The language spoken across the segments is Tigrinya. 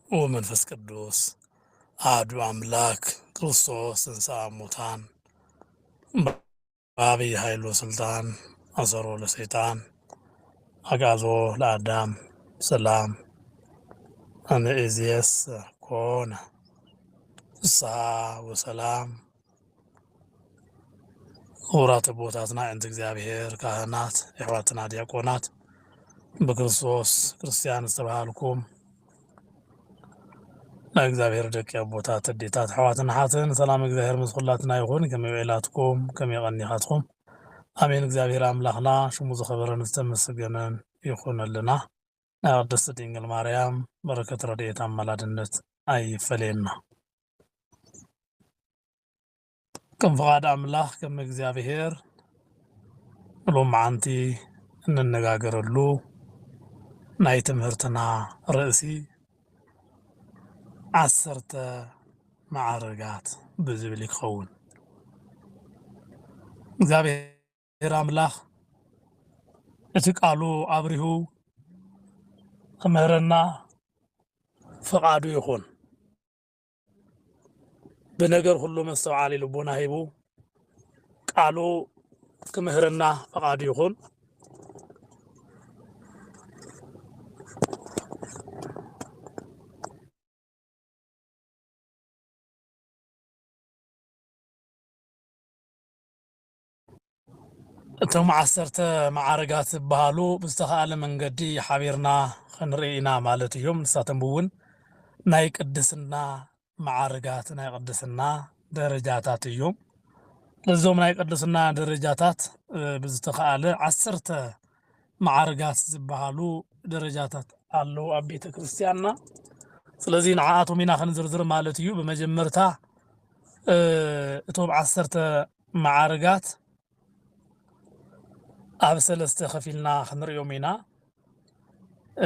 ወመንፈስ ቅዱስ ኣሐዱ ኣምላክ ክርስቶስ ተንሥአ እሙታን በዐቢይ ኃይሉ ስልጣን አሰሮ ለሰይጣን አግዓዞ ለአዳም ሰላም እምይእዜሰ ኮነ ፍስሐ ወሰላም ክቡራት ኣቦታትና ዕንቲ እግዚኣብሔር ካህናት ኣሕዋትና ዲያቆናት ብክርስቶስ ክርስቲያን ዝተባሃልኩም ናይ እግዚኣብሔር ደቂ ኣቦታት ኣዴታት ኣሕዋትን ሓትን ሰላም እግዚኣብሔር ምስ ኩላትና ይኹን ከመይ ውዒላትኩም ከመይ ቀኒኻትኩም ኣሜን እግዚኣብሔር ኣምላኽና ሽሙ ዝኸበረን ዝተመስገነን ይኹነልና ናይ ቅድስት ድንግል ማርያም በረከት ረድኤት ኣማላድነት ኣይፈለየና። ከም ፍቃድ ኣምላኽ ከም እግዚኣብሔር ሎማዓንቲ እንነጋገረሉ ናይ ትምህርትና ርእሲ ዓሰርተ መዓርጋት ብዝብል ይኸውን። እግዚኣብሔር እግዚኣብሔር ኣምላክ እቲ ቃሉ ኣብሪሁ ክምህረና ፍቃዱ ይኩን ብነገር ሁሉ መስተውዓሊ ልቦና ሂቡ ቃሉ ክምህረና ፍቃዱ ይኩን እቶም ዓሰርተ መዓርጋት ዝበሃሉ ብዝተኻእለ መንገዲ ሓቢርና ኽንርኢ ኢና ማለት እዮም። ንሳቶም'ውን ናይ ቅድስና መዓርጋት፣ ናይ ቅድስና ደረጃታት፣ እዮም። ነዞም ናይ ቅድስና ደረጃታት ብዝተኻእለ ዓሰርተ መዓርጋት ዝበሃሉ ደረጃታት ኣለዉ ኣብ ቤተ ክርስቲያንና። ስለዚ ንዓኣቶም ኢና ኽንዝርዝር ማለት እዩ። ብመጀመርታ እቶም ዓሰርተ መዓርጋት ኣብ ሰለስተ ከፊልና ክንሪኦም ኢና።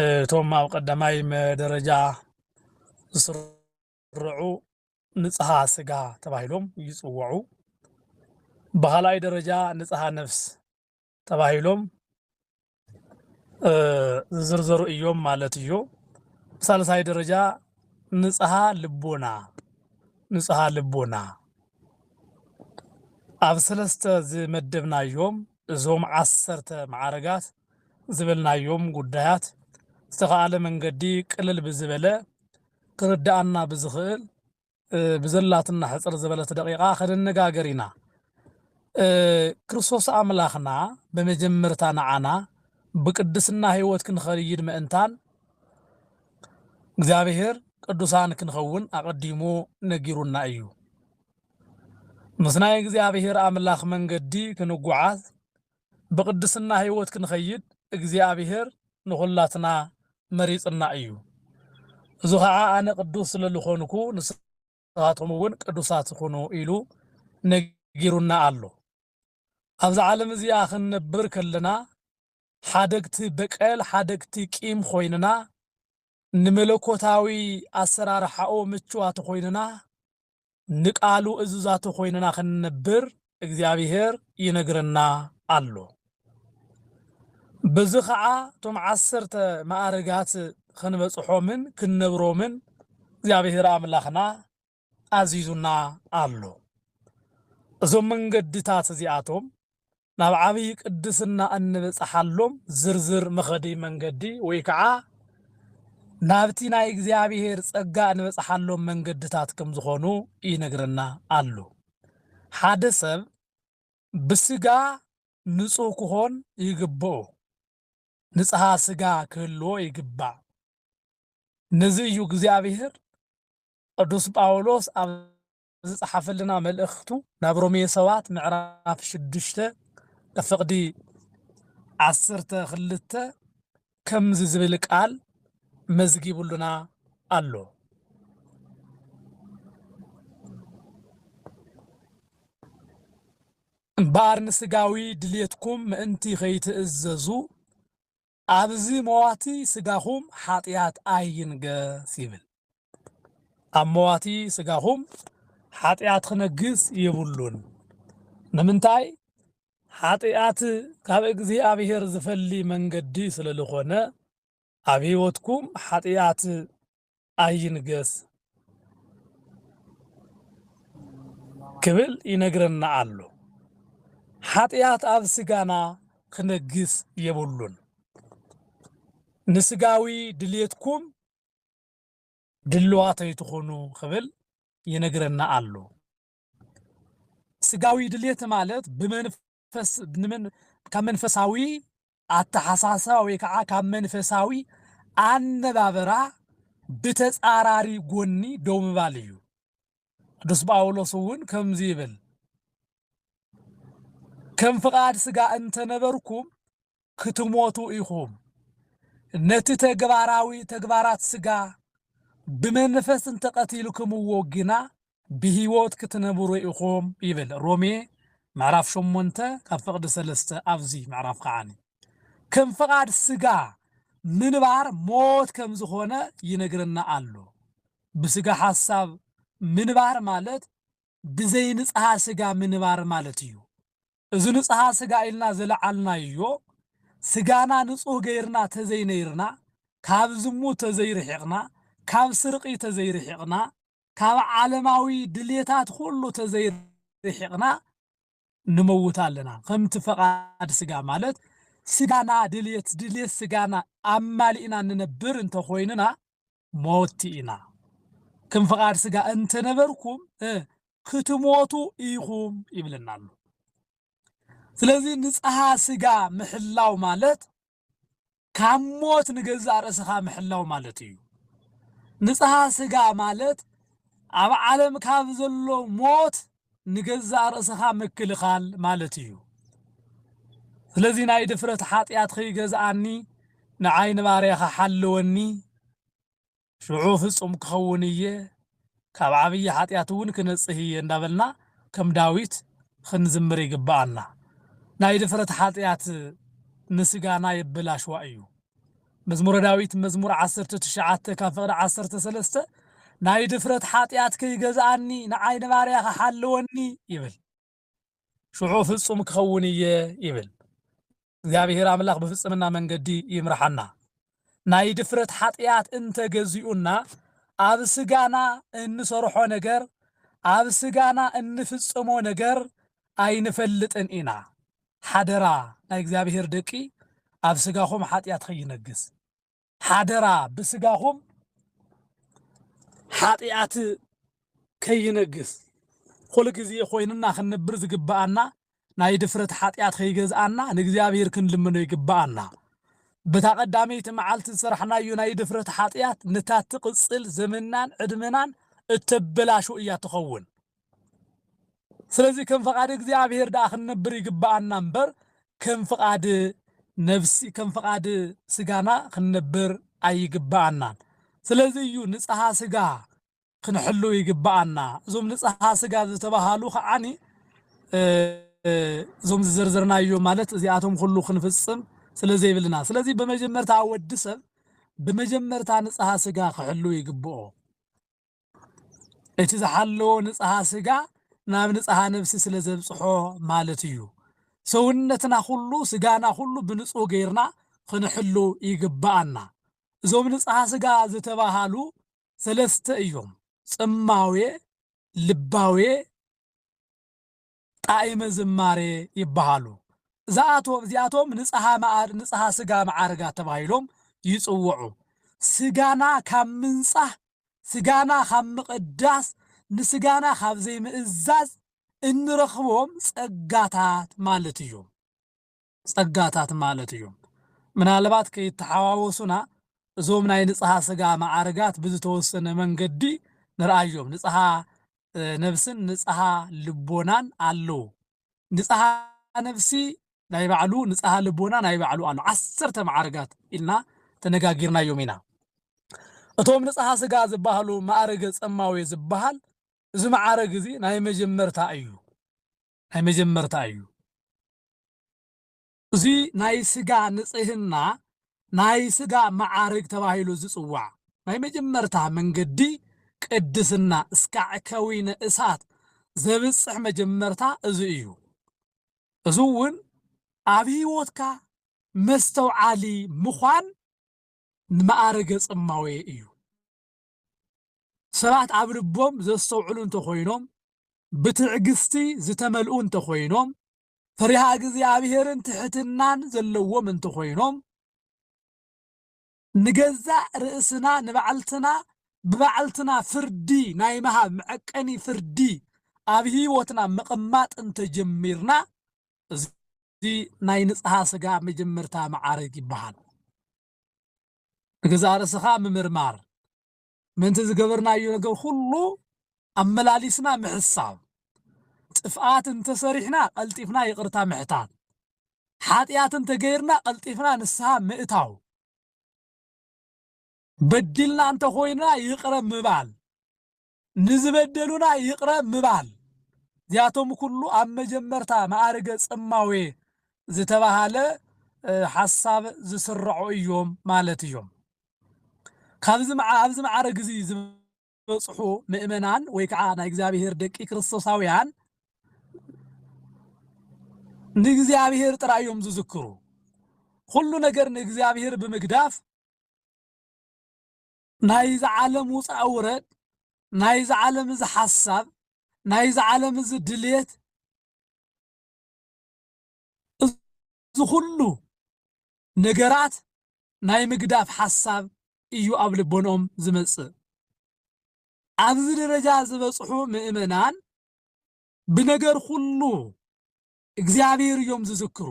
እቶም ኣብ ቀዳማይ ደረጃ ዝስርዑ ንጽሃ ስጋ ተባሂሎም ይጽውዑ። ብኻልኣይ ደረጃ ንጽሃ ነፍስ ተባሂሎም ዝዝርዘሩ እዮም ማለት እዩ። ብሳልሳይ ደረጃ ንጽሃ ልቦና ንጽሃ ልቦና ኣብ ሰለስተ ዝመደብናዮም እዞም ዓሰርተ መዓረጋት ዝበልናዮም ጉዳያት ዝተኸኣለ መንገዲ ቅልል ብዝበለ ክርድኣና ብዝኽእል ብዘላትና ሕጽር ዝበለት ደቂቃ ከነነጋገር ኢና። ክርስቶስ ኣምላኽና ብመጀመርታ ንዓና ብቅድስና ሕይወት ክንኸይድ ምእንታን እግዚኣብሔር ቅዱሳን ክንኸውን ኣቐዲሙ ነጊሩና እዩ። ምስ ናይ እግዚኣብሔር ኣምላኽ መንገዲ ክንጉዓዝ ብቅድስና ሕይወት ክንኸይድ እግዚኣብሔር ንኹላትና መሪጽና እዩ። እዙ ኸዓ ኣነ ቅዱስ ስለ ልኾንኩ ንስኻቶምውን ቅዱሳት ኹኑ ኢሉ ነጊሩና ኣሎ። ኣብዚ ዓለም እዚኣ ክንነብር ከለና ሓደግቲ በቀል፣ ሓደግቲ ቂም ኾይንና ንመለኮታዊ ኣሰራርሓኡ ምችዋት ኾይንና ንቃሉ እዙዛቱ ኮይንና ክንነብር እግዚኣብሔር ይነግረና ኣሎ። በዚ ኸዓ እቶም ዓሰርተ መኣርጋት ኽንበጽሖምን ክንነብሮምን እግዚኣብሔር ኣምላኽና ኣዚዙና ኣሎ። እዞም መንገድታት እዚኣቶም ናብ ዓብይ ቅድስና እንብጽሓሎም ዝርዝር መኸዲ መንገዲ ወይ ከዓ ናብቲ ናይ እግዚኣብሔር ጸጋ እንበጽሓሎም መንገድታት ከም ዝኾኑ ይነግረና ኣሎ። ሓደ ሰብ ብስጋ ንጹህ ክኾን ይግብኦ፣ ንጽሃ ስጋ ክህልዎ ይግባእ። ነዚ እዩ እግዚኣብሔር ቅዱስ ጳውሎስ ኣብ ዝጸሓፈልና መልእኽቱ ናብ ሮሜ ሰባት ምዕራፍ ሽዱሽተ ፍቕዲ ዓሰርተ ክልተ ከምዚ ዝብል ቃል መዝጊቡሉና ኣሎ። እምበኣር ንስጋዊ ድሌትኩም ምእንቲ ከይትእዘዙ ኣብዚ መዋቲ ስጋኹም ሓጢኣት ኣይንገስ ይብል። ኣብ መዋቲ ስጋኹም ሓጢኣት ክነግስ የብሉን። ንምንታይ? ሓጢኣት ካብ እግዚኣብሔር ዝፈሊ መንገዲ ስለልኾነ ኣብ ሕይወትኩም ሓጢኣት ኣይንገስ ክብል ይነግረና ኣሎ። ሓጢኣት ኣብ ስጋና ክነግስ የብሉን። ንስጋዊ ድልየትኩም ድልዋተይ ትኹኑ ክብል ይነግረና ኣሎ። ስጋዊ ድልየት ማለት ብመንፈስ ካብ መንፈሳዊ ኣተሓሳስባ ወይ ከዓ ካብ መንፈሳዊ ኣነባብራ ብተፃራሪ ጎኒ ደው ምባል እዩ። ቅዱስ ጳውሎስ እውን ከምዚ ይብል፣ ከም ፍቓድ ሥጋ እንተነበርኩም ክትሞቱ ኢኹም። ነቲ ተግባራዊ ተግባራት ስጋ ብመንፈስ እንተ ቀቲልክምዎ ግና ብህይወት ክትነብሩ ኢኹም ይብል ሮሜ ምዕራፍ ሸሞንተ ካብ ፍቕዲ ሰለስተ ኣብዚ ምዕራፍ ከዓኒ ከም ፍቓድ ስጋ ምንባር ሞት ከም ዝኾነ ይነግረና ኣሎ። ብስጋ ሓሳብ ምንባር ማለት ብዘይንጽሃ ስጋ ምንባር ማለት እዩ። እዚ ንጽሃ ስጋ ኢልና ዝለዓልናዮ፣ ስጋና ንጹህ ገይርና ተዘይነይርና፣ ካብ ዝሙት ተዘይርሒቕና፣ ካብ ስርቒ ተዘይርሒቕና፣ ካብ ዓለማዊ ድሌታት ኩሉ ተዘይርሒቕና ንመውት ኣለና። ከምቲ ፈቓድ ስጋ ማለት ስጋና ድሌት ድሌት ስጋና ኣማሊእና ንነብር እንተኾይንና፣ ሞቲ ኢና ክም ፍቃድ ስጋ እንተነበርኩም እ ክትሞቱ ኢኹም ይብለና ኣሎ ስለዚ ንጽሃ ስጋ ምሕላው ማለት ካብ ሞት ንገዛእ ርእስኻ ምሕላው ማለት እዩ ንጽሃ ስጋ ማለት ኣብ ዓለም ካብ ዘሎ ሞት ንገዛእ ርእስኻ ምክልኻል ማለት እዩ። ስለዚ ናይ ድፍረት ሓጢኣት ኺገዝኣኒ፣ ንዓይ ንባርያ ኺሓልወኒ፣ ሽዑ ፍጹም ክኸውን እየ፣ ካብ ዓብዪ ሓጢኣት እውን ክነጽህ እየ እንዳበልና ከም ዳዊት ኽንዝምር ይግብኣና። ናይ ድፍረት ሓጢኣት ንስጋና የበላሽዋ እዩ። መዝሙረ ዳዊት መዝሙር ዓሰርተ ትሽዓተ ካብ ፍቕዲ ዓሰርተ ሰለስተ ናይ ድፍረት ሓጢኣት ከይገዝኣኒ ንዓይ ንባርያኻ ሓለወኒ ይብል ሽዑ ፍጹም ክኸውን እየ ይብል እግዚኣብሔር ኣምላኽ ብፍጽምና መንገዲ ይምርሓና ናይ ድፍረት ሓጢኣት እንተገዚኡና ኣብ ስጋና እንሰርሖ ነገር ኣብ ስጋና እንፍጽሞ ነገር ኣይንፈልጥን ኢና ሓደራ ናይ እግዚኣብሄር ደቂ ኣብ ስጋኹም ሓጢኣት ኸይነግስ ሓደራ ብስጋኹም ሓጢኣት ከይነግስ ኩሉ ግዜ ኮይንና ክንነብር ዝግብኣና ናይ ድፍረት ሓጢኣት ከይገዝኣና ንእግዚኣብሄር ክንልምኖ ይግብኣና በታ ቀዳመይቲ መዓልቲ ዝሰራሕናዮ ናይ ድፍረት ሓጢኣት ነታ ትቕፅል ዘመናን ዕድመናን እተበላሹ እያ ትኸውን ስለዚ ከም ፈቃድ እግዚኣብሔር ደኣ ክንነብር ይግብኣና እምበር ከም ፍቃድ ነብሲ ከም ፍቃድ ስጋና ክንነብር ኣይግብኣናን። ስለዚ እዩ ንጽሃ ስጋ ክንሕሉ ይግብኣና። እዞም ንጽሃ ስጋ ዝተባሃሉ ከዓኒ እዞም ዝዘርዘርናዮ ማለት እዚኣቶም ኩሉ ክንፍጽም ስለ ዘይብልና፣ ስለዚ ብመጀመርታ ወዲ ሰብ ብመጀመርታ ንጽሃ ስጋ ክሕሉ ይግብኦ። እቲ ዝሓለዎ ንጽሃ ስጋ ናብ ንጽሃ ነብሲ ስለ ዘብጽሖ ማለት እዩ። ሰውነትና ኩሉ ስጋና ኩሉ ብንጹህ ገይርና ክንሕሉ ይግብኣና። እዞም ንጽሃ ስጋ ዝተባሃሉ ሰለስተ እዮም፣ ጽማዌ፣ ልባዌ፣ ጣኢመ ዝማሬ ይበሃሉ። ዝኣቶም እዚኣቶም ንጽሃ መኣድ፣ ንጽሃ ስጋ መዓርጋት ተባሂሎም ይጽውዑ። ስጋና ካብ ምንጻህ፣ ስጋና ካብ ምቕዳስ፣ ንስጋና ካብ ዘይምእዛዝ እንረኽቦም ጸጋታት ማለት እዮም። ጸጋታት ማለት እዩ። ምናልባት ከይተሓዋወሱና እዞም ናይ ንጽሃ ስጋ መዓርጋት ብዝተወሰነ መንገዲ ንርኣዮም። ንጽሃ ነብስን ንጽሃ ልቦናን ኣለዉ። ንጽሃ ነብሲ ናይ ባዕሉ ንጽሃ ልቦና ናይ ባዕሉ ኣሎ። ዓሰርተ መዓርጋት ኢልና ተነጋጊርናዮም ኢና። እቶም ንጽሃ ስጋ ዝበሃሉ ማእርገ ጸማዌ ዝበሃል እዚ መዓርግ እዚ ናይ መጀመርታ እዩ። ናይ መጀመርታ እዩ። እዚ ናይ ስጋ ንጽህና ናይ ስጋ መዓርግ ተባሂሉ ዝጽዋዕ ናይ መጀመርታ መንገዲ ቅድስና እስካዕ ከዊነ እሳት ዘብጽሕ መጀመርታ እዚ እዩ። እዚ እውን ኣብ ህይወትካ መስተውዓሊ ምዃን ንመኣረገ ጽማዌ እዩ። ሰባት ኣብ ልቦም ዘስተውዕሉ እንተኾይኖም፣ ብትዕግስቲ ዝተመልኡ እንተኾይኖም፣ ፈሪሃ እግዚኣብሔርን ትሕትናን ዘለዎም እንተኾይኖም፣ ንገዛእ ርእስና ንባዕልትና ብባዕልትና ፍርዲ ናይ ምሃብ መዐቀኒ ፍርዲ ኣብ ህይወትና ምቕማጥ እንተጀሚርና እዚ ናይ ንጽሃ ስጋ መጀመርታ መዓርግ ይበሃል። ንገዛእ ርእስኻ ምምርማር፣ ምእንቲ ዝገበርናዮ ነገር ኩሉ ኣመላሊስና ምሕሳብ፣ ጥፍኣት እንተ ሰሪሕና ቀልጢፍና ይቕርታ ምሕታት፣ ሓጢኣት እንተ ገይርና ቀልጢፍና ንስሃ ምእታው፣ በዲልና እንተ ኾይንና ይቕረ ምባል፣ ንዝበደሉና ይቕረ ምባል፣ እዚኣቶም ኩሉ ኣብ መጀመርታ መኣርገ ጽማዌ ዝተባህለ ሓሳብ ዝስረዑ እዮም ማለት እዮም። ካብዚ ኣብዚ መዓርግ እዚ ዝበጽሑ ምእመናን ወይ ከዓ ናይ እግዚኣብሔር ደቂ ክርስቶሳውያን ንእግዚኣብሔር ጥራይ እዮም ዝዝክሩ። ኩሉ ነገር ንእግዚኣብሔር ብምግዳፍ ናይዚ ዓለም ውፃእ ውረድ፣ ናይዚ ዓለም እዚ ሓሳብ፣ ናይዚ ዓለም እዚ ድሌት፣ እዚ ኹሉ ነገራት ናይ ምግዳፍ ሓሳብ እዩ ኣብ ልቦንኦም ዝመፅእ። ኣብዚ ደረጃ ዝበፅሑ ምእመናን ብነገር ኹሉ እግዚኣብሔር እዮም ዝዝክሩ።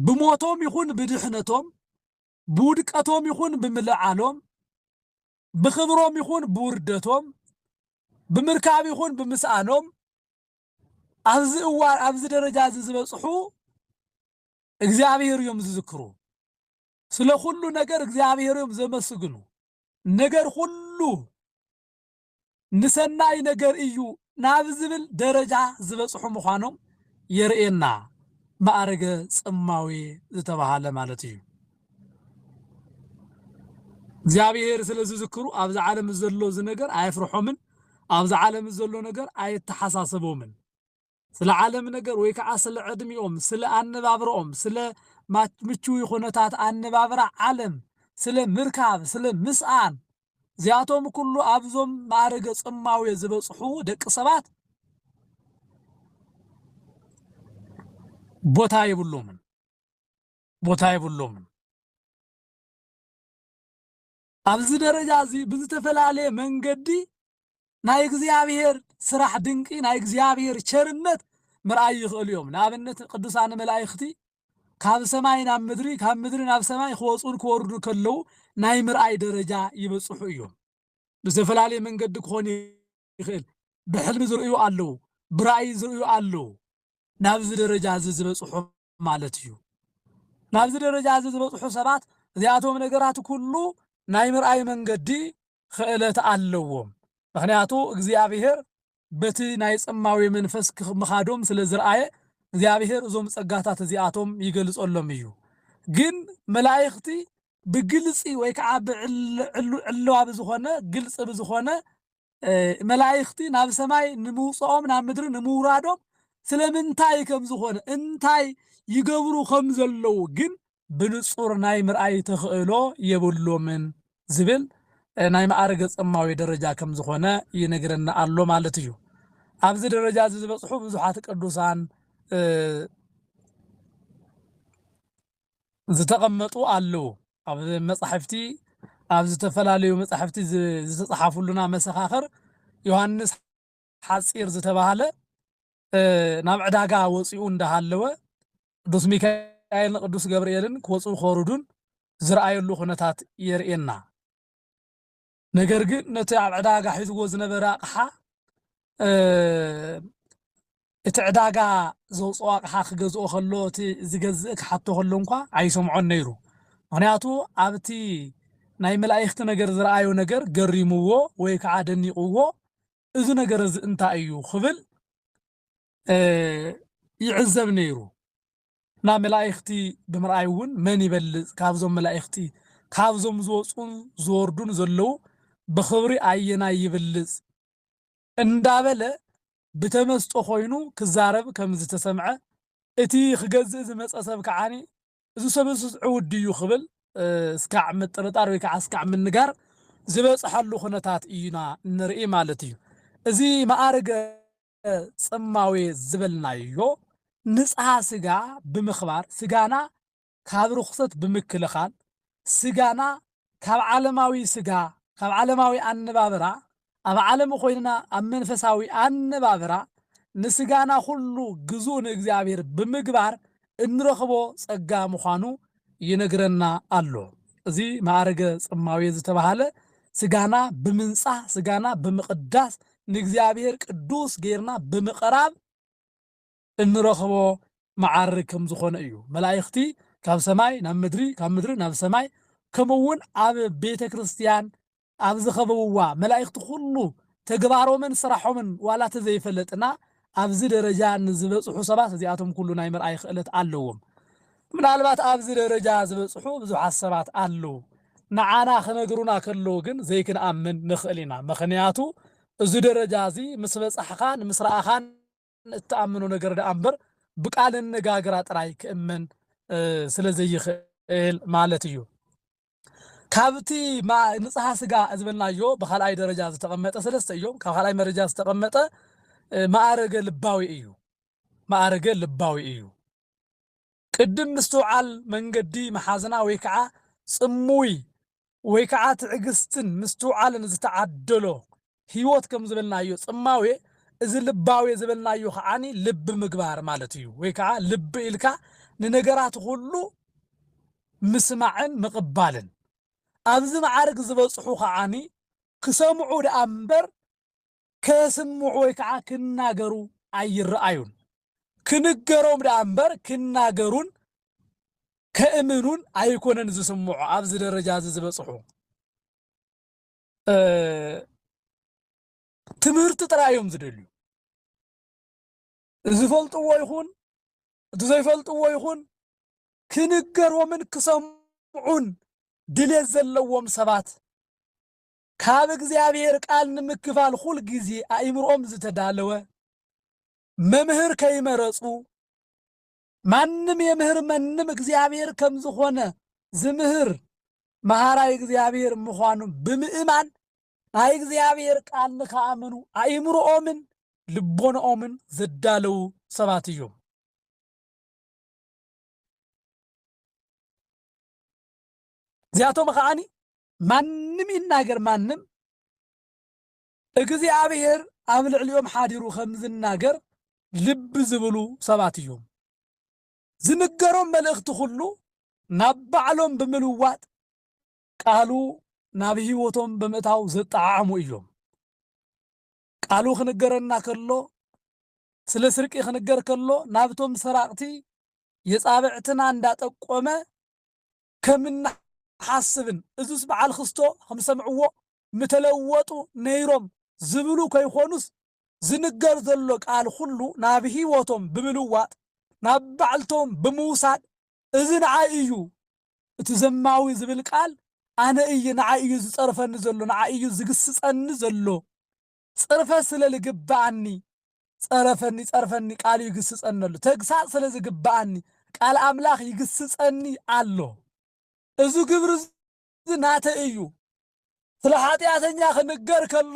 ብሞቶም ይኹን ብድሕነቶም ብውድቀቶም ይኹን ብምልዓሎም፣ ብኽብሮም ይኹን ብውርደቶም፣ ብምርካብ ይኹን ብምስኣኖም ኣብዚ እዋን ኣብዚ ደረጃ እዚ ዝበፅሑ እግዚኣብሔር እዮም ዝዝክሩ። ስለ ኩሉ ነገር እግዚኣብሔር እዮም ዘመስግኑ። ነገር ሁሉ ንሰናይ ነገር እዩ ናብ ዝብል ደረጃ ዝበጽሑ ምዃኖም የርእየና፣ ማእርገ ጽማዌ ዝተባህለ ማለት እዩ። እግዚኣብሔር ስለ ዝዝክሩ ኣብዚ ዓለም ዘሎ እዚ ነገር ኣየፍርሖምን፣ ኣብዚ ዓለም ዘሎ ነገር ኣየተሓሳሰቦምን። ስለ ዓለም ነገር ወይ ከዓ ስለ ዕድሚኦም፣ ስለ ኣነባብረኦም፣ ስለ ምችዊ ኩነታት ኣነባብራ ዓለም፣ ስለ ምርካብ፣ ስለ ምስኣን፣ እዚኣቶም ኩሉ ኣብዞም ማእርገ ጽማዌ ዝበጽሑ ደቂ ሰባት ቦታ የብሎምን ቦታ የብሎምን። ኣብዚ ደረጃ እዚ ብዝተፈላለየ መንገዲ ናይ እግዚኣብሔር ስራሕ ድንቂ ናይ እግዚኣብሔር ቸርነት ምርኣይ ይኽእሉ እዮም። ንኣብነት ቅዱሳን መላእኽቲ ካብ ሰማይ ናብ ምድሪ ካብ ምድሪ ናብ ሰማይ ክወፁን ክወርዱ ከለዉ ናይ ምርኣይ ደረጃ ይበፅሑ እዮም። ብዝተፈላለየ መንገዲ ክኾን ይኽእል። ብሕልሚ ዝርእዩ ኣለዉ፣ ብራእይ ዝርእዩ ኣለዉ። ናብዚ ደረጃ እዚ ዝበፅሑ ማለት እዩ። ናብዚ ደረጃ እዚ ዝበጽሑ ሰባት እዚኣቶም ነገራት ኩሉ ናይ ምርኣይ መንገዲ ኽእለት ኣለዎም። ምኽንያቱ እግዚኣብሔር በቲ ናይ ጽማዌ መንፈስ ምኻዶም ስለ ዝርኣየ እግዚኣብሔር እዞም ጸጋታት እዚኣቶም ይገልጸሎም እዩ። ግን መላእኽቲ ብግልጺ ወይ ከዓ ብዕልዋ ብዝኾነ ግልጽ ብዝኾነ መላእኽቲ ናብ ሰማይ ንምውፅኦም ናብ ምድሪ ንምውራዶም ስለምንታይ ከም ዝኾነ እንታይ ይገብሩ ከም ዘለዉ ግን ብንጹር ናይ ምርኣይ ተኽእሎ የብሎምን ዝብል ናይ መኣርገ ጸማዊ ደረጃ ከም ዝኾነ ይነግረና ኣሎ ማለት እዩ። ኣብዚ ደረጃ እዚ ዝበጽሑ ብዙሓት ቅዱሳን ዝተቐመጡ ኣለዉ። ኣብ መጻሕፍቲ ኣብ ዝተፈላለዩ መጻሕፍቲ ዝተጻሓፉሉና መሰኻኽር ዮሃንስ ሓጺር ዝተባህለ ናብ ዕዳጋ ወጺኡ እንዳሃለወ ቅዱስ ሚካኤልን ቅዱስ ገብርኤልን ክወጽኡ ከወርዱን ዝርኣየሉ ኩነታት የርእየና። ነገር ግን ነቲ ኣብ ዕዳጋ ሒዝዎ ዝነበረ ኣቕሓ እቲ ዕዳጋ ዘውፅኦ ኣቕሓ ክገዝኦ ከሎ እቲ ዝገዝእ ክሓቶ ከሎ እንኳ ኣይሰምዖን ነይሩ ምክንያቱ ኣብቲ ናይ መላእኽቲ ነገር ዝረኣዮ ነገር ገሪምዎ ወይ ከዓ ደኒቕዎ እዚ ነገር እዚ እንታይ እዩ ክብል ይዕዘብ ነይሩ ናብ መላኢክቲ ብምርኣይ እውን መን ይበልፅ ካብዞም መላኢክቲ ካብዞም ዝወፁን ዝወርዱን ዘለዉ ብኽብሪ ኣየናይ ይብልፅ እንዳበለ ብተመስጦ ኮይኑ ክዛረብ ከምዝተሰምዐ እቲ ክገዝእ ዝመፀ ሰብ ከዓ እዚ ሰብስስ ዕውት ድዩ ክብል እስካዕ ምጥርጣር ወይ ከዓ እስካዕ ምንጋር ዝበፅሐሉ ኩነታት እዩና እንርኢ ማለት እዩ እዚ መኣርገ ጽማዌ ዝበልናዮ ንጽሃ ስጋ ብምኽባር ስጋና ካብ ርኹሰት ብምክልኻል ስጋና ካብ ዓለማዊ ስጋ ካብ ዓለማዊ ኣነባብራ ኣብ ዓለም ኾይንና ኣብ መንፈሳዊ ኣነባብራ ንስጋና ኩሉ ግዙእ ንእግዚኣብሔር ብምግባር እንረኽቦ ጸጋ ምዃኑ ይነግረና ኣሎ። እዚ መኣርገ ጽማዌ ዝተባህለ ስጋና ብምንጻህ ስጋና ብምቕዳስ ንእግዚኣብሔር ቅዱስ ገይርና ብምቕራብ እንረኽቦ መዓርግ ከም ዝኾነ እዩ። መላእኽቲ ካብ ሰማይ ናብ ምድሪ ካብ ምድሪ ናብ ሰማይ ከምኡውን ኣብ ቤተ ክርስቲያን ኣብ ዝኸበብዋ መላኢክቲ ኩሉ ተግባሮምን ስራሖምን ዋላ ተዘይፈለጥና ኣብዚ ደረጃ ንዝበጽሑ ሰባት እዚኣቶም ኩሉ ናይ ምርኣይ ክእለት ኣለዎም። ምናልባት ኣብዚ ደረጃ ዝበጽሑ ብዙሓት ሰባት ኣለው ንዓና ክነግሩና ከለው ግን ዘይክንኣምን ንኽእል ኢና ምኽንያቱ እዚ ደረጃ እዚ ምስ በጻሕኻን ምስ ረኣኻን እትኣምኖ ነገር ደኣ እምበር ብቃል ኣነጋግራ ጥራይ ክእመን ስለ ዘይኽእል ማለት እዩ። ካብቲ ማእ ንጽሃ ስጋ ዝበልናዮ ብካልኣይ ደረጃ ዝተቐመጠ ሰለስተ እዮም። ካብ ካልኣይ መረጃ ዝተቐመጠ ማእረገ ልባዊ እዩ። ማእረገ ልባዊ እዩ። ቅድም ምስትውዓል መንገዲ መሓዝና ወይ ከዓ ጽምዊ ወይ ከዓ ትዕግስትን ምስትውዓልን ዝተዓደሎ ሕይወት ከም ዝበልናዮ ጽማዌ እዚ ልባዌ ዝበልናዮ ከዓኒ ልቢ ምግባር ማለት እዩ ወይ ከኣ ልቢ ኢልካ ንነገራት ኩሉ ምስማዕን ምቕባልን ኣብዚ መዓርግ ዝበጽሑ ከዓኒ ክሰምዑ ደኣ እምበር ከስምዑ ወይ ከኣ ክናገሩ ኣይረኣዩን ክንገሮም ደኣ እምበር ክናገሩን ከእምኑን ኣይኮነን ዝስምዑ ኣብዚ ደረጃ እዚ ዝበጽሑ ትምህርቲ ጥራይ እዮም ዝደልዩ ዝፈልጥዎ ይኹን እቲ ዘይፈልጥዎ ይኹን ክንገሮምን ክሰምዑን ድሌት ዘለዎም ሰባት ካብ እግዚኣብሔር ቃል ንምክፋል ኩል ጊዜ ኣእምሮኦም ዝተዳለወ መምህር ከይመረፁ ማንም የምህር መንም እግዚኣብሔር ከም ዝኾነ ዝምህር መሃራይ እግዚኣብሔር ምዃኑ ብምእማን ናይ እግዚኣብሔር ቃል ንክኣምኑ ኣእምሮኦምን ልቦናኦምን ዘዳለዉ ሰባት እዮም። እዚኣቶም ከዓኒ ማንም ይናገር ማንም እግዚኣብሔር ኣብ ልዕሊኦም ሓዲሩ ከም ዝናገር ልቢ ዝብሉ ሰባት እዮም። ዝንገሮም መልእኽቲ ኹሉ ናብ ባዕሎም ብምልዋጥ ቃሉ ናብ ሕይወቶም ብምእታው ዘጠዓዕሙ እዮም። ቃሉ ክንገረና ከሎ ስለ ስርቂ ክንገር ከሎ ናብቶም ሰራቕቲ የጻብዕትና እንዳጠቆመ ከም እንሓስብን እዙስ በዓል ክስቶ ከም ዝሰምዕዎ ምተለወጡ ነይሮም ዝብሉ ከይኮኑስ ዝንገር ዘሎ ቃል ኩሉ ናብ ሂወቶም ብምልዋጥ ናብ ባዕልቶም ብምውሳድ እዚ ንዓይ እዩ እቲ ዘማዊ ዝብል ቃል ኣነ እየ ንዓይ እዩ ዝጸርፈኒ ዘሎ ንዓይ እዩ ዝግስጸኒ ዘሎ ጽርፈት ስለ ልግብኣኒ ጸረፈኒ ጸርፈኒ ቃሉ ይግስጸኒ ኣሎ ተግሳጽ ስለ ዝግብኣኒ ቃል ኣምላኽ ይግስጸኒ ኣሎ እዙ ግብሪ እዚ ናተይ እዩ። ስለ ሓጢኣተኛ ክንገር ከሎ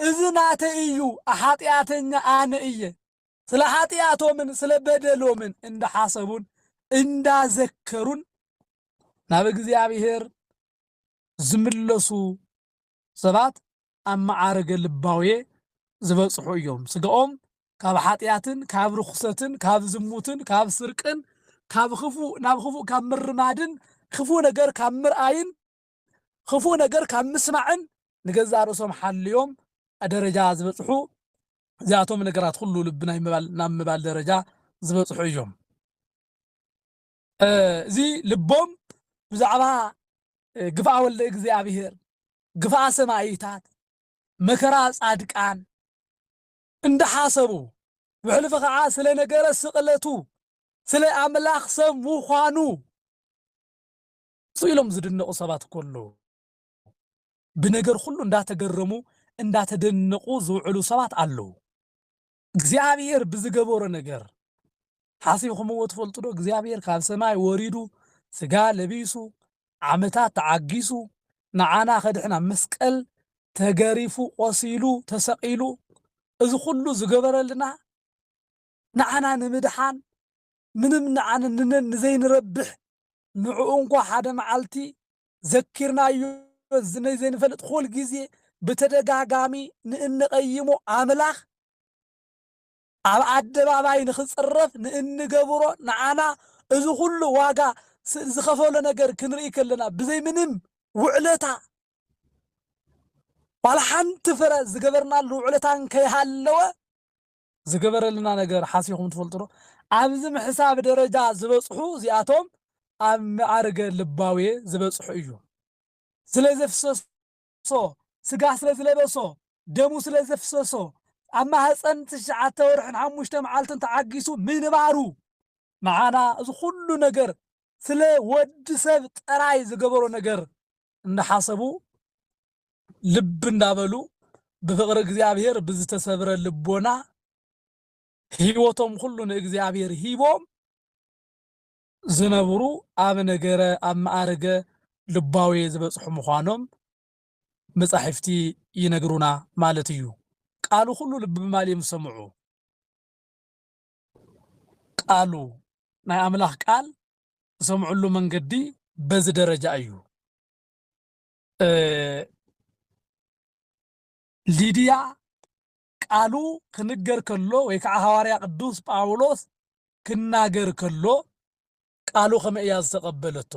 እዚ ናተይ እዩ፣ ሓጢኣተኛ ኣነ እየ። ስለ ሓጢኣቶምን ስለ በደሎምን እንዳሓሰቡን እንዳዘከሩን ናብ እግዚኣብሔር ዝምለሱ ሰባት ኣብ መዓርገ ልባውየ ዝበጽሑ እዮም። ስጋኦም ካብ ሓጢኣትን ካብ ርኹሰትን ካብ ዝሙትን ካብ ስርቅን ካብ ክፉእ ናብ ክፉእ ካብ ምርማድን ክፉእ ነገር ካብ ምርኣይን ክፉእ ነገር ካብ ምስማዕን ንገዛእ ርእሶም ሓልዮም ደረጃ ዝበጽሑ እዚኣቶም ነገራት ኩሉ ልቢ ናይ ምባል ናብ ምባል ደረጃ ዝበጽሑ እዮም። እዚ ልቦም ብዛዕባ ግፍዓ ወልደ እግዚኣብሔር፣ ግፍዓ ሰማኢታት፣ መከራ ጻድቃን እንዳሓሰቡ ብሕልፊ ከዓ ስለ ነገረ ስቅለቱ ስለ ኣምላኽ ሰብ ምዃኑ ስኢሎም ዝድነቁ ሰባት እኮ ኣለዉ። ብነገር ኩሉ እንዳተገረሙ እንዳተደነቁ ዝውዕሉ ሰባት ኣለዉ። እግዚኣብሔር ብዝገበሮ ነገር ሓሲብኩምዎ ትፈልጡ ዶ? እግዚኣብሔር ካብ ሰማይ ወሪዱ ስጋ ለቢሱ ዓመታት ተዓጊሱ ንዓና ከድሕን ኣብ መስቀል ተገሪፉ ቆሲሉ ተሰቂሉ እዚ ኩሉ ዝገበረልና ንዓና ንምድሓን ምንም ንዓን ንነን ንዘይንረብሕ ንዑኡ እንኳ ሓደ መዓልቲ ዘኪርናዮ ዝመይ ዘይንፈልጥ ኹል ግዜ ብተደጋጋሚ ንእንቐይሞ ኣምላኽ ኣብ ኣደባባይ ንኽጽረፍ ንእንገብሮ ንዓና እዚ ኹሉ ዋጋ ዝኸፈሎ ነገር ክንርኢ ከለና ብዘይ ምንም ውዕለታ ዋላ ሓንቲ ፍረ ዝገበርናሉ ውዕለታ እንከይሃለወ ዝገበረልና ነገር ሓሲብኹም ትፈልጡ ዶ? ኣብዚ ምሕሳብ ደረጃ ዝበጽሑ እዚኣቶም ኣብ መዓርገ ልባዌ ዝበጽሑ እዮም። ስለ ዘፍሰሶ፣ ስጋ ስለ ዝለበሶ፣ ደሙ ስለ ዘፍሰሶ፣ ኣብ ማህጸን ትሽዓተ ወርሕን ሓሙሽተ መዓልትን ተዓጊሱ ምንባሩ፣ ንዓና እዚ ኹሉ ነገር ስለ ወዲ ሰብ ጥራይ ዝገበሮ ነገር እንዳሓሰቡ ልብ እንዳበሉ ብፍቕሪ እግዚኣብሔር ብዝተሰብረ ልቦና ህይወቶም ኩሉ ንእግዚኣብሔር ሂቦም ዝነብሩ ኣብ ነገረ ኣብ መኣርገ ልባዊ ዝበጽሑ ምዃኖም መጻሕፍቲ ይነግሩና ማለት እዩ። ቃሉ ኩሉ ልቢ ማል እዮም ዝሰምዑ። ቃሉ፣ ናይ ኣምላኽ ቃል ዝሰምዕሉ መንገዲ በዚ ደረጃ እዩ። ሊድያ ቃሉ ክንገር ከሎ ወይ ከዓ ሃዋርያ ቅዱስ ጳውሎስ ክናገር ከሎ ቃሉ ከመይ እያ ዝተቐበለቶ?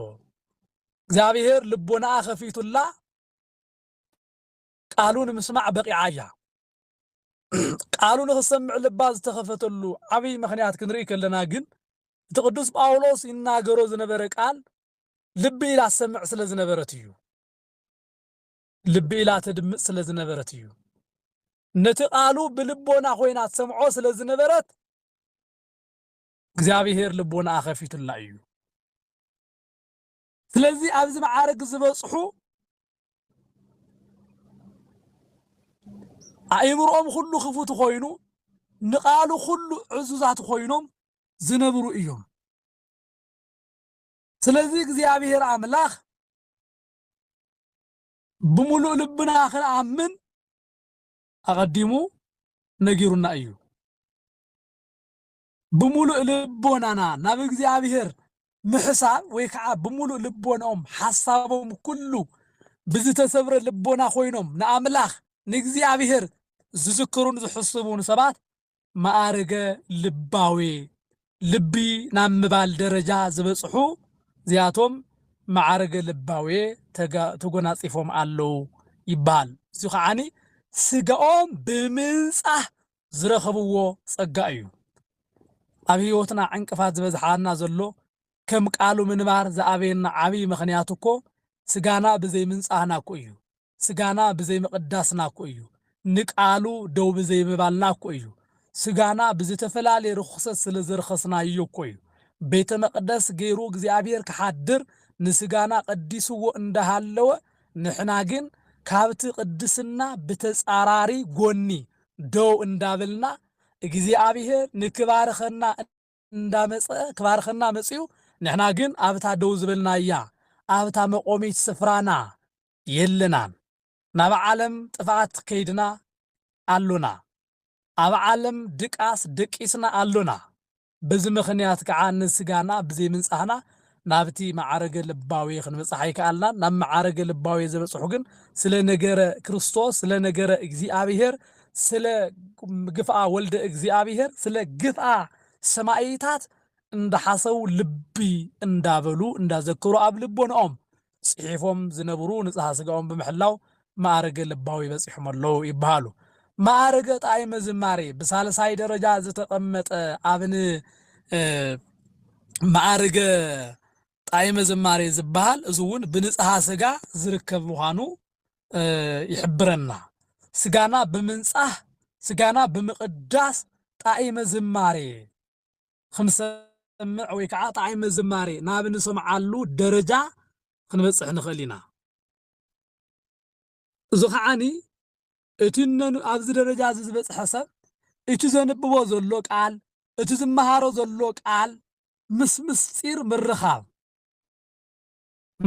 እግዚኣብሔር ልቦናኣ ከፊቱላ ቃሉ ንምስማዕ በቂዓ እያ። ቃሉ ንኽትሰምዕ ልባ ዝተኸፈተሉ ዓብይ ምኽንያት ክንርኢ ከለና ግን እቲ ቅዱስ ጳውሎስ ይናገሮ ዝነበረ ቃል ልቢ ኢላ ትሰምዕ ስለ ዝነበረት እዩ። ልቢ ኢላ ተድምፅ ስለ ዝነበረት እዩ። ነቲ ቃሉ ብልቦና ኮይና ትሰምዖ ስለ ዝነበረት እግዚኣብሔር ልቦናኣ ከፊቱላ እዩ። ስለዚ ኣብዚ መዓርግ ዝበጽሑ ኣእምሮኦም ኩሉ ክፉት ኮይኑ ንቃሉ ኩሉ ዕዙዛት ኮይኖም ዝነብሩ እዮም። ስለዚ እግዚኣብሔር ኣምላኽ ብምሉእ ልብና ክንኣምን ኣቐዲሙ ነጊሩና እዩ። ብምሉእ ልቦናና ናብ እግዚኣብሔር ምሕሳብ ወይ ከዓ ብምሉእ ልቦናኦም ሓሳቦም ኩሉ ብዝተሰብረ ልቦና ኮይኖም ንኣምላኽ ንእግዚኣብሔር ዝዝክሩን ዝሕስቡን ሰባት ማዕርገ ልባዊ ልቢ ናብ ምባል ደረጃ ዝበፅሑ እዚኣቶም ማዕርገ ልባዊ ተጎናፂፎም ኣለዉ ይበሃል። እዚ ከዓኒ ስጋኦም ብምንፃህ ዝረኸብዎ ጸጋ እዩ። ኣብ ሕይወትና ዕንቅፋት ዝበዝሓና ዘሎ ከም ቃሉ ምንባር ዝኣበየና ዓብይ ምኽንያት እኮ ስጋና ብዘይ ምንጻህና እኮ እዩ። ስጋና ብዘይ ምቕዳስና እኮ እዩ። ንቃሉ ደው ብዘይ ምባልና እኮ እዩ። ስጋና ብዝተፈላለየ ርኹሰት ስለ ዘርኸስናዮ እኮ እዩ። ቤተ መቕደስ ገይሩ እግዚኣብሔር ክሓድር ንስጋና ቀዲስዎ እንዳሃለወ ንሕና ግን ካብቲ ቅድስና ብተጻራሪ ጎኒ ደው እንዳበልና እግዚኣብሄር ንክባርኸና እንዳመጸ ክባርኸና መጺኡ ንሕና ግን ኣብታ ደው ዝበልናያ ኣብታ መቆሚት ስፍራና የለናን ናብ ዓለም ጥፍኣት ከይድና ኣሎና ኣብ ዓለም ድቃስ ደቂስና ኣሎና በዚ ምኽንያት ከኣ ንስጋና ብዘይምንጻህና ናብቲ መዓርገ ልባዌ ክንበጽሕ ኣይከኣልናን። ናብ መዓርገ ልባዌ ዘበጽሑ ግን ስለ ነገረ ክርስቶስ፣ ስለ ነገረ እግዚኣብሔር፣ ስለ ግፍኣ ወልደ እግዚኣብሔር፣ ስለ ግፍኣ ሰማኢታት እንዳሓሰቡ ልቢ እንዳበሉ እንዳዘከሩ ኣብ ልቦንኦም ጽሒፎም ዝነብሩ ንጽሃ ስጋኦም ብምሕላው መኣርገ ልባዊ በጺሖም ኣለዉ ይበሃሉ። መኣርገ ጣይመ ዝማሬ ብሳልሳይ ደረጃ ዝተቐመጠ ኣብን መኣርገ ጣይመ ዝማሬ ዝበሃል እዚ እውን ብንጽሃ ስጋ ዝርከብ ምዃኑ ይሕብረና። ስጋና ብምንጻህ ስጋና ብምቕዳስ ጣይመ ዝማሬ ኽንሰምዕ ወይ ከዓ ጣዕመ ዝማሬ ናብ ንሰምዓሉ ደረጃ ኽንበፅሕ ንኽእል ኢና። እዚ ኸዓኒ እቲ እነን ኣብዚ ደረጃ እዚ ዝበፅሐ ሰብ እቲ ዘንብቦ ዘሎ ቃል እቲ ዝመሃሮ ዘሎ ቃል ምስ ምስጢር ምርኻብ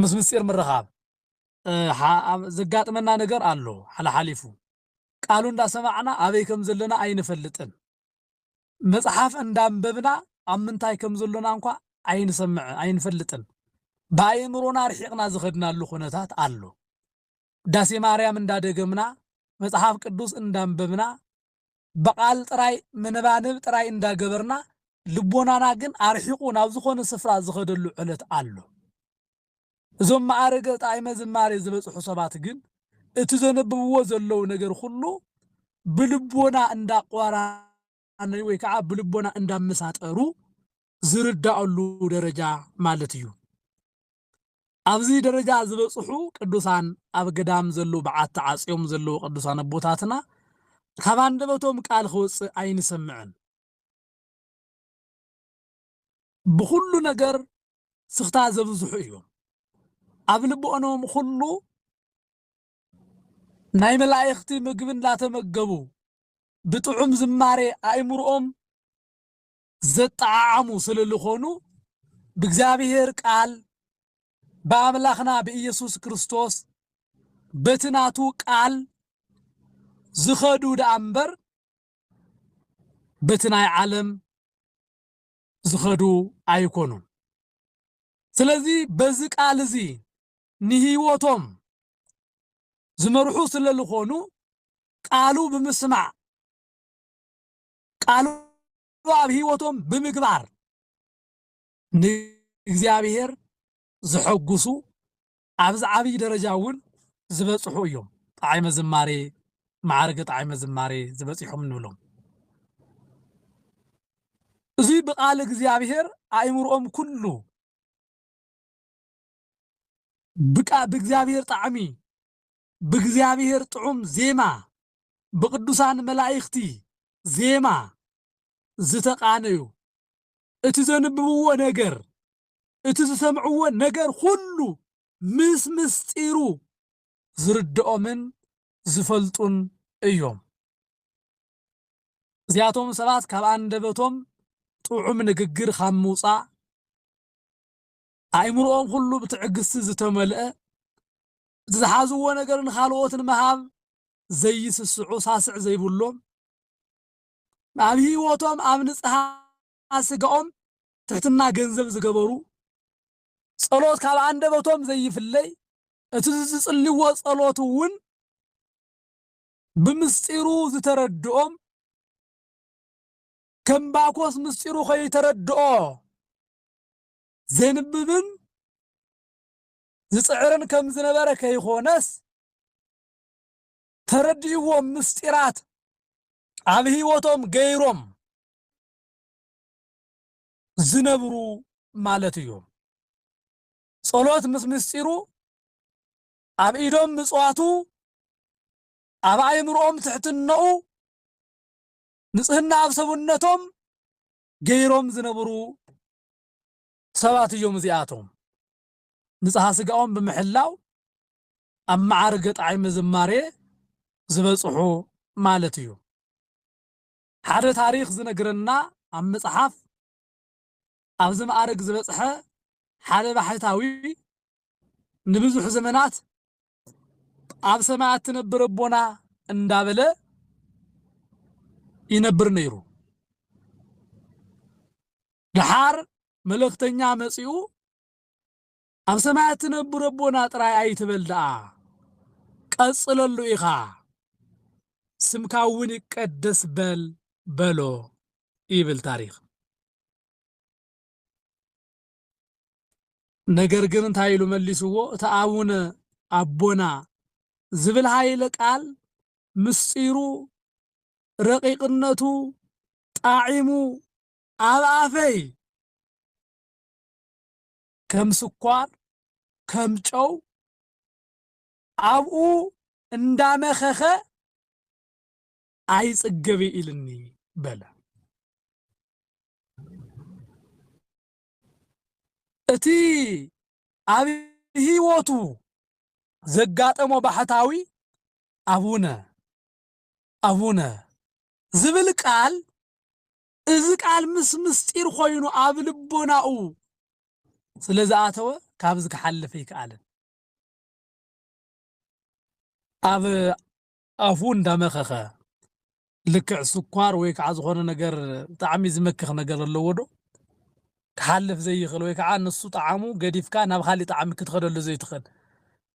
ምስ ምስጢር ምርኻብ ዘጋጥመና ነገር ኣሎ ሓላሓሊፉ ቃሉ እንዳሰማዕና ኣበይ ከም ዘለና ኣይንፈልጥን መጽሓፍ እንዳንበብና ኣብ ምንታይ ከም ዘሎና እንኳ ኣይንሰምዕ ኣይንፈልጥን ብኣእምሮና ርሒቕና ዝኸድናሉ ኩነታት ኣሎ ውዳሴ ማርያም እንዳደገምና መጽሓፍ ቅዱስ እንዳንበብና ብቓል ጥራይ ምንባንብ ጥራይ እንዳገበርና ልቦናና ግን ኣርሒቑ ናብ ዝኾነ ስፍራ ዝኸደሉ ዕለት ኣሎ እዞም መኣርገ ጣእመ ዝማሬ ዝበጽሑ ሰባት ግን እቲ ዘንብብዎ ዘለዉ ነገር ኩሉ ብልቦና እንዳቋራነዩ ወይ ከኣ ብልቦና እንዳመሳጠሩ ዝርዳእሉ ደረጃ ማለት እዩ። ኣብዚ ደረጃ ዝበጽሑ ቅዱሳን ኣብ ገዳም ዘለዉ በዓቲ ዓጽዮም ዘለዉ ቅዱሳን ኣቦታትና ካብ ኣንደበቶም ቃል ክወጽእ ኣይንሰምዕን። ብኹሉ ነገር ስኽታ ዘብዝሑ እዮም። ኣብ ልቦኖም ኹሉ ናይ መላኢኽቲ ምግቢ እንዳተመገቡ ብጥዑም ዝማሬ ኣእምርኦም ዘጠዓዓሙ ስለልኾኑ ብእግዚኣብሔር ቃል ብኣምላኽና ብኢየሱስ ክርስቶስ በቲ ናቱ ቃል ዝኸዱ ደኣ እምበር በቲ ናይ ዓለም ዝኸዱ ኣይኮኑን። ስለዚ በዚ ቃል እዚ ንህይወቶም ዝመርሑ ስለ ዝኾኑ ቃሉ ብምስማዕ ቃሉ ኣብ ህይወቶም ብምግባር ንእግዚኣብሔር ዘሐጉሱ ኣብዚ ዓብይ ደረጃ እውን ዝበፅሑ እዮም። ጣዕመ ዝማሬ፣ መዓርገ ጣዕመ ዝማሬ ዝበፂሖም እንብሎም። እዙይ ብቃል እግዚኣብሔር ኣእምርኦም ኩሉ ብቃ ብእግዚኣብሔር ጣዕሚ ብእግዚኣብሔር ጥዑም ዜማ ብቅዱሳን መላእክቲ ዜማ ዝተቃነዩ እቲ ዘንብብዎ ነገር እቲ ዝሰምዕዎ ነገር ኹሉ ምስ ምስጢሩ ዝርድኦምን ዝፈልጡን እዮም። እዚኣቶም ሰባት ካብ ኣንደበቶም ጥዑም ንግግር ኻብ ምውጻእ፣ ኣእምሮኦም ኹሉ ብትዕግስቲ ዝተመልአ፣ እቲ ዝሓዝዎ ነገር ንኻልኦት ንምሃብ ዘይስስዑ ሳስዕ ዘይብሎም፣ ኣብ ህይወቶም ኣብ ንጽሃ ኣብ ስጋኦም ትሕትና ገንዘብ ዝገበሩ፣ ጸሎት ካብ ኣንደበቶም ዘይፍለይ፣ እቲ ዝጽልይዎ ጸሎት'ውን ብምስጢሩ ዝተረድኦም፣ ከም ባኮስ ምስጢሩ ከይተረድኦ ዜንብብን ዝጽዕርን ከም ዝነበረ ከይኮነስ፣ ተረዲእዎም ምስጢራት ኣብ ሕይወቶም ገይሮም ዝነብሩ ማለት እዮም። ጸሎት ምስ ምስጢሩ ኣብ ኢዶም ምጽዋቱ ኣብ ኣእምርኦም ትሕትናኡ ንጽህና ኣብ ሰብነቶም ገይሮም ዝነብሩ ሰባት እዮም እዚኣቶም። ንጽሃ ስጋኦም ብምሕላው ኣብ መዓርገ ጣዕመ ዝማሬ ዝበጽሑ ማለት እዩ። ሓደ ታሪኽ ዝነግረና ኣብ መጽሓፍ ኣብዚ መኣርግ ዝበጽሐ ሓደ ባሕታዊ ንብዙሕ ዘመናት ኣብ ሰማያት ትነብር ኣቦና እንዳበለ ይነብር ነይሩ። ደሓር መልእኽተኛ መጺኡ ኣብ ሰማያት ትነብር ኣቦና ጥራይ ኣይትበል ደኣ ቀጽለሉ ኢኻ ስምካ እውን ይቀደስ በል በሎ ይብል ታሪኽ። ነገር ግን እንታይ ኢሉ መሊስዎ እቲ ኣቡነ ኣቦና ዝብል ሃይለ ቃል ምስጢሩ ረቂቅነቱ ጣዒሙ ኣብ ኣፈይ ከም ስኳር ከም ጨው ኣብኡ እንዳመኸኸ ኣይጽገብ ኢልኒ በለ። እቲ ኣብ ህይወቱ ዘጋጠሞ ባሕታዊ ኣቡነ ኣቡነ ዝብል ቃል እዚ ቃል ምስ ምስጢር ኮይኑ ኣብ ልቦናኡ ስለ ዝኣተወ ካብዚ ክሓልፍ ኣይከኣለን። ኣብ ኣፉ እንዳመኸኸ ልክዕ ስኳር ወይ ከዓ ዝኾነ ነገር ብጣዕሚ ዝመክኽ ነገር ኣለዎ ዶ ክሓልፍ ዘይኽእል ወይ ከዓ ንሱ ጣዕሙ ገዲፍካ ናብ ካሊእ ጣዕሚ ክትኸደሉ ዘይትኽእል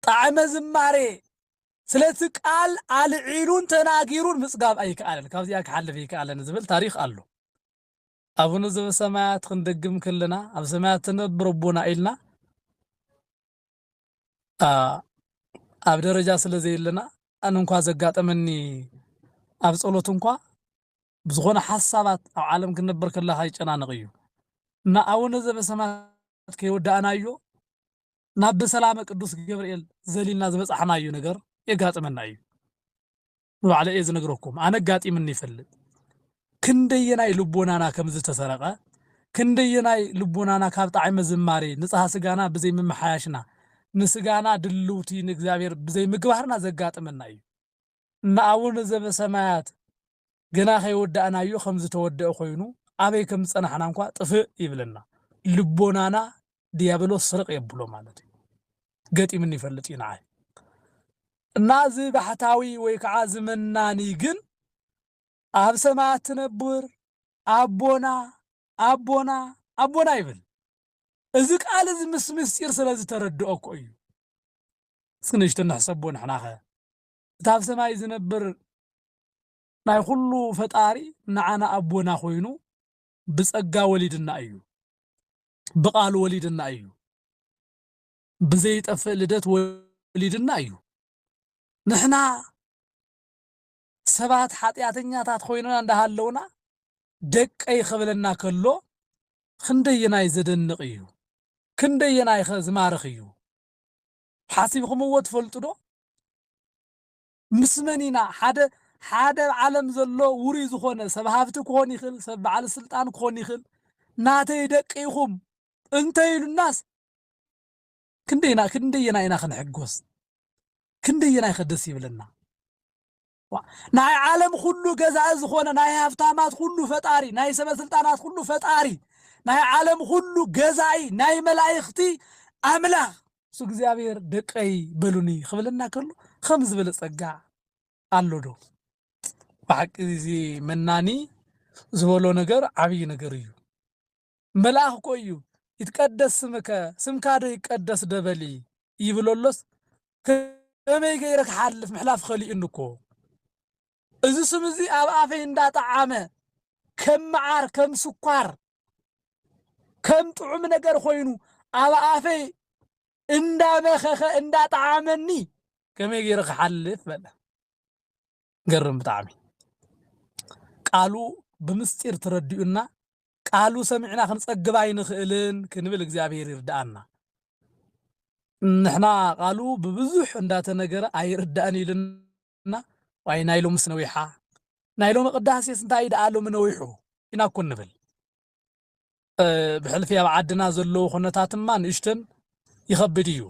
ጣዕመ ዝማሬ ስለቲ ቃል ኣልዒሉን ተናጊሩን ምጽጋብ ኣይከኣለን፣ ካብዚኣ ክሓልፍ ኣይከኣለን ዝብል ታሪኽ ኣሎ። ኣቡነ ዘበሰማያት ክንደግም ከለና ኣብ ሰማያት ትነብር ኣቦና ኢልና ኣብ ደረጃ ስለ ዘየለና ኣነ እንኳ ዘጋጠመኒ ኣብ ጸሎት እንኳ ብዝኾነ ሓሳባት ኣብ ዓለም ክንነብር ከለካ ይጨናነቕ እዩ እና ኣቡነ ዘበሰማያት ከይወዳእናዮ ናብ ብሰላመ ቅዱስ ገብርኤል ዘሊልና ዝበጻሕናዩ ነገር የጋጥመና እዩ። ንባዕለይ እየ ዝነግረኩም፣ ኣነ ኣጋጢምኒ ይፈልጥ። ክንደየናይ ልቦናና ከም ዝተሰረቐ፣ ክንደየናይ ልቦናና ካብ ጣዕመ ዝማሬ ንጽሃ ስጋና ብዘይ ምምሓያሽና፣ ንስጋና ድልውቲ ንእግዚኣብሔር ብዘይ ምግባርና ዘጋጥመና እዩ። ንኣቡነ ዘበሰማያት ገና ከይወዳእናዮ ከም ዝተወደኣ ኮይኑ ኣበይ ከም ዝጸናሕና እንኳ ጥፍእ ይብለና። ልቦናና ድያብሎስ ስርቅ የብሎ ማለት እዩ። ገጢምኒ ይፈልጥ እዩ ንዓይ። እና እዚ ባሕታዊ ወይ ከዓ እዚ መናኒ ግን ኣብ ሰማያት ትነብር ኣቦና ኣቦና ኣቦና ይብል። እዚ ቃል እዚ ምስ ምስጢር ስለ ዝተረድኦ እኮ እዩ። እስኪ ንእሽቶ ንሕሰቦ ንሕናኸ እቲ ኣብ ሰማይ ዝነብር ናይ ኹሉ ፈጣሪ ንዓና ኣቦና ኮይኑ ብጸጋ ወሊድና እዩ ብቃሉ ወሊድና እዩ ብዘይጠፍእ ልደት ወሊድና እዩ ንሕና ሰባት ሓጢኣተኛታት ኮይንና እንዳሃለውና ደቀይ ክብለና ከሎ ክንደየናይ ዘደንቕ እዩ ክንደየናይኸ ዝማርኽ እዩ ሓሲብክምዎ ትፈልጡ ዶ? ምስ መን ኢና ሓደ ሓደ ኣብ ዓለም ዘሎ ውሩይ ዝኾነ ሰብ ሃብቲ ክኾን ይኽእል፣ ሰብ በዓል ስልጣን ክኾን ይኽእል፣ ናተይ ደቂ ኢኹም እንተ ኢሉናስ ክንደይ ኢና ክንደየናይ ኢና ክንሕጎስ? ክንደየናይኸ ደስ ይብለና? ናይ ዓለም ኹሉ ገዛኢ ዝኾነ ናይ ሃብታማት ኹሉ ፈጣሪ ናይ ሰበስልጣናት ኹሉ ፈጣሪ ናይ ዓለም ኹሉ ገዛኢ ናይ መላእኽቲ ኣምላኽ እሱ እግዚኣብሔር ደቀይ በሉኒ ክብለና ከሎ ከም ዝበለ ጸጋ ኣሎ ዶ? ብሓቂ እዚ መናኒ ዝበሎ ነገር ዓብይ ነገር እዩ። መልኣኽ እኮ እዩ ይትቀደስ ስምከ ስምካ ዶ ይቀደስ ዶ በሊ ይብሎ ኣሎስ ከመይ ገይረ ክሓልፍ ምሕላፍ ኸሊኡኒ እኮ እዚ ስም እዚ ኣብ ኣፈይ እንዳጠዓመ ከም መዓር ከም ስኳር ከም ጥዑም ነገር ኮይኑ ኣብ ኣፈይ እንዳመኸኸ እንዳጠዓመኒ ከመይ ገይረ ክሓልፍ በለ ገርም ብጣዕሚ ቃሉ ብምስጢር ትረድኡና ቃሉ ሰሚዕና ክንጸግብ ኣይንኽእልን ክንብል እግዚኣብሔር ይርዳኣና ንሕና ቃሉ ብብዙሕ እንዳተነገረ ኣይርዳእን ኢልና ዋይ ናይ ሎምስ ነዊሓ ናይ ሎሚ ቅዳሴስ እንታይ ደኣ ሎሚ ነዊሑ ኢና እኮ ንብል ብሕልፊ ኣብ ዓድና ዘለዉ ኩነታትማ ንእሽተን ይኸብድ እዩ።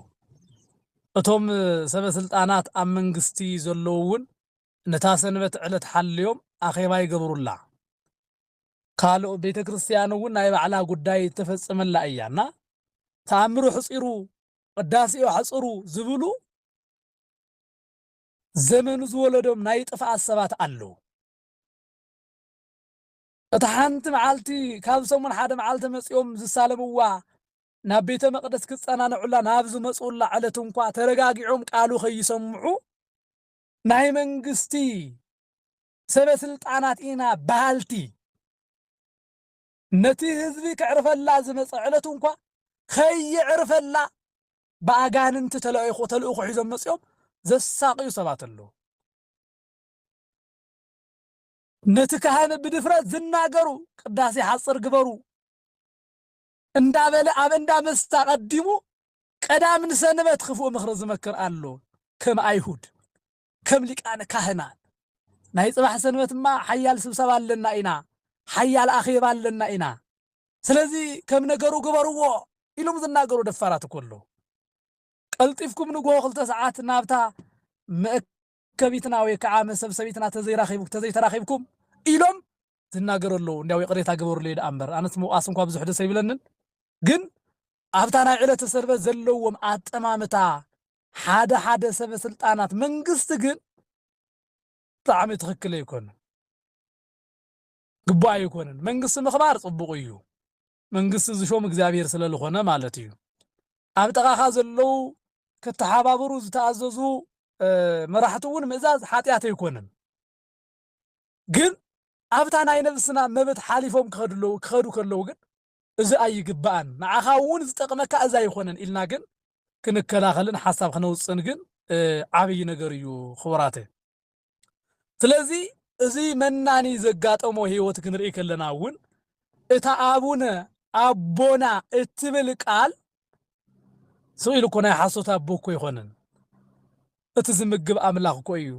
እቶም ሰበ ስልጣናት ኣብ መንግስቲ ዘለዉ እውን ነታ ሰንበት ዕለት ሓልዮም ኣኼባ ይገብሩላ። ካልእ ቤተ ክርስቲያን እውን ናይ ባዕላ ጉዳይ እተፈጽመላ እያ እና ተኣምሩ ሕጺሩ ቅዳሴኡ ኣሕጽሩ ዝብሉ ዘመኑ ዝወለዶም ናይ ጥፍኣት ሰባት ኣለዉ። እታ ሓንቲ መዓልቲ ካብ ሰሙን ሓደ መዓልቲ መጺኦም ዝሳለምዋ ናብ ቤተ መቕደስ ክጸናንዑላ ናብ ዝመጽኡላ ዕለት እንኳ ተረጋጊዖም ቃሉ ከይሰምዑ ናይ መንግስቲ ሰበ ስልጣናት ኢና በሃልቲ ነቲ ህዝቢ ከዕርፈላ ዝመጸ ዕለት እንኳ ከየዕርፈላ ብኣጋንንቲ ተለኢኹ ተልእኾ ሒዞም መጺኦም ዘሳቕዩ ሰባት ኣለዉ። ነቲ ካህን ብድፍረት ዝናገሩ ቅዳሴ ሓጽር ግበሩ እንዳበለ ኣብ እንዳ መስተ ኣቐዲሙ ቀዳም ንሰንበት ክፉእ ምኽሪ ዝመክር ኣሎ ከም ኣይሁድ ከም ሊቃነ ካህናት ናይ ጽባሕ ሰንበትማ ሓያል ስብሰባ ኣለና ኢና ሓያል ኣኼባ ኣለና ኢና ስለዚ ከም ነገሩ ግበርዎ ኢሎም ዝናገሩ ደፋራት እኮ ኣለዉ ቀልጢፍኩም ንግሆ ክልተ ሰዓት ናብታ ከቢትና ወይ ክዓ መሰብ ሰቢትና ተዘይራኺቡ ተዘይተራኺብኩም ኢሎም ዝናገሩ ኣለዉ እንዲያው ይቕሬታ ግበሩለይ ድኣ እምበር ኣነስ ምውቓስ እንኳ ብዙሕ ደስ ኣይብለንን ግን ኣብታ ናይ ዕለተ ሰንበት ዘለዎም ኣጠማምታ ሓደ ሓደ ሰበ ስልጣናት መንግስቲ ግን ብጣዕሚ ትኽክል ኣይኮነን ግቡእ ኣይኮነን መንግስቲ ምኽባር ፅቡቕ እዩ መንግስቲ ዝሾም እግዚኣብሔር ስለ ልኾነ ማለት እዩ። ኣብ ጥቓኻ ዘለዉ ክተሓባበሩ ዝተኣዘዙ መራሕቲ እውን ምእዛዝ ሓጢኣት ኣይኮነን። ግን ኣብታ ናይ ነብስና መብት ሓሊፎም ክኸዱ ክኸዱ ከለዉ ግን እዚ ኣይግባእን ንዓኻ እውን ዝጠቕመካ እዚ ኣይኾነን ኢልና ግን ክንከላኸልን ሓሳብ ክነውፅእን ግን ዓብይ ነገር እዩ ክቡራተይ። ስለዚ እዚ መናኒ ዘጋጠሞ ህይወት ክንርኢ ከለና እውን እታ ኣቡነ ኣቦና እትብል ቃል ስቕ ኢሉ እኮ ናይ ሓሶት ኣቦ እኮ ኣይኮነን። እቲ ዝምግብ ኣምላኽ እኮ እዩ።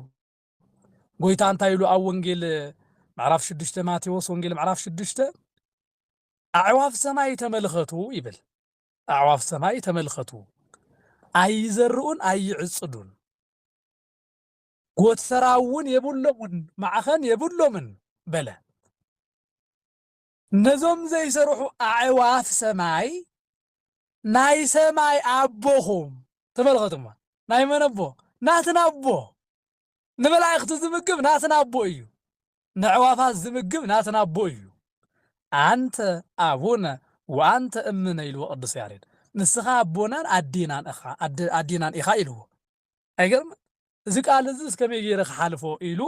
ጎይታ እንታይ ኢሉ ኣብ ወንጌል ምዕራፍ ሽዱሽተ ማቴዎስ ወንጌል ምዕራፍ ሽዱሽተ ኣዕዋፍ ሰማይ ተመልኸቱ ይብል። ኣዕዋፍ ሰማይ ተመልከቱ፣ ኣይዘርኡን ኣይዕጽዱን፣ ጎትሰራውን የብሎሙን፣ ማዕኸን የብሎምን በለ። ነዞም ዘይሰርሑ ኣዕዋፍ ሰማይ ናይ ሰማይ ኣቦኹም ተመልኸቱማ ናይ መን ኣቦ ናትና ኣቦ ንመላእኽቲ ዝምግብ ናትና ኣቦ እዩ ንዕዋፋት ዝምግብ ናትና ኣቦ እዩ ኣንተ ኣቡነ ወኣንተ እምነ ኢልዎ ቅዱስ ያሬድ ንስኻ ኣቦናን ኣዴናን ኢኻ ኣዴናን ኢኻ ኢልዎ ኣይገርምን? እዚ ቃል እዝስ ከመይ ገይረ ክሓልፎ ኢሉ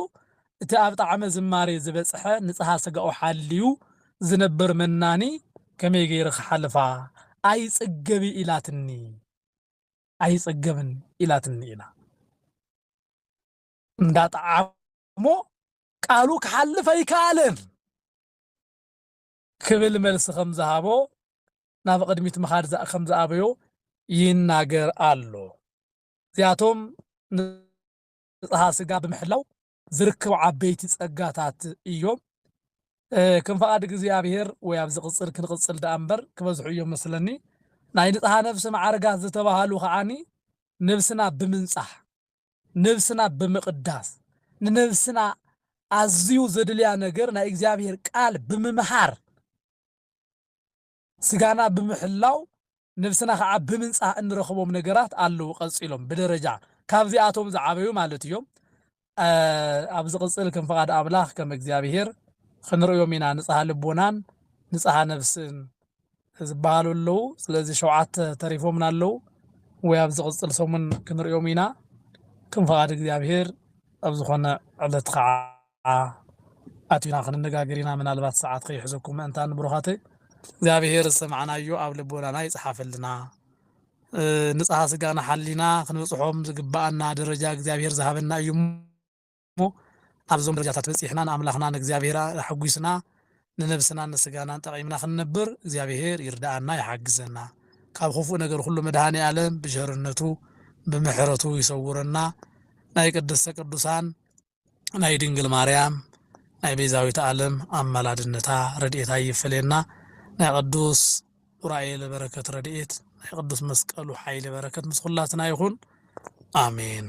እቲ ኣብ ጣዕመ ዝማሬ ዝበጽሐ ንጽሃ ስጋኡ ሓልዩ ዝነብር መናኒ ከመይ ገይረ ክሓልፋ ኣይጽገቢ ኢላትኒ ኣይጽገብን ኢላትኒ ኢላ እንዳ ጠዓሞ ቃሉ ክሓልፍ ኣይከኣለን። ክብል መልሲ ከም ዝሃቦ ናብ ቕድሚት ምኻድ ከም ዝኣበዮ ይናገር ኣሎ። እዚኣቶም ንጽሃ ስጋ ብምሕላው ዝርከቡ ዓበይቲ ጸጋታት እዮም። ከም ፍቓድ እግዚኣብሄር ወይ ኣብ ዝቕጽል ክንቕጽል ደኣ እምበር ክበዝሑ እዮም መስለኒ። ናይ ንጽሃ ነፍሲ መዓርጋት ዝተባህሉ ከዓኒ ንብስና ብምንጻህ ነብስና ብምቕዳስ፣ ንነብስና ኣዝዩ ዘድልያ ነገር ናይ እግዚኣብሄር ቃል ብምምሃር፣ ስጋና ብምሕላው፣ ነብስና ከኣ ብምንጻህ እንረኽቦም ነገራት ኣለዉ ቀጺሎም ብደረጃ ካብዚኣቶም ዝዓበዩ ማለት እዮም ኣብ ዝቕጽል ከም ፍቓድ ኣምላኽ ከም እግዚኣብሄር ኽንርእዮም ኢና ንጽሃ ልቦናን ንጽሃ ነብስን ዝበሃሉ ኣለው ስለዚ ሸውዓተ ተሪፎምና ኣለው ወይ ኣብ ዝቅጽል ሰሙን ክንርእዮም ኢና ከም ፍቃድ እግዚኣብሄር ኣብ ዝኮነ ዕለት ከኣ ኣቲና ክንነጋገር ኢና ምናልባት ሰዓት ከይሕዘኩም ምእንታን ብሩካተይ እግዚኣብሄር ዝሰማዕናዮ ኣብ ልቦናና ይጽሓፈልና ንጽሃ ስጋና ሓሊና ክንበጽሖም ዝግባኣና ደረጃ እግዚኣብሄር ዝሃበና እዩ እሞ ኣብዞም ደረጃታት በጺሕና ንኣምላኽና ንእግዚኣብሄራ ኣሕጒስና ንነብስናን ንስጋናን ጠቒምና ክንነብር እግዚኣብሄር ይርድኣና ይሓግዘና ካብ ኹፉእ ነገር ኹሉ መድሃኒኣለም ብቸርነቱ ብምሕረቱ ይሰውረና ናይ ቅድስተ ቅዱሳን ናይ ድንግል ማርያም ናይ ቤዛዊት ኣለም ኣማላድነታ ረድኤታ ኣይፈለየና ናይ ቅዱስ ኡራኤል በረከት ረድኤት ናይ ቅዱስ መስቀሉ ሓይሊ በረከት ምስ ኹላትና ይኹን ኣሜን።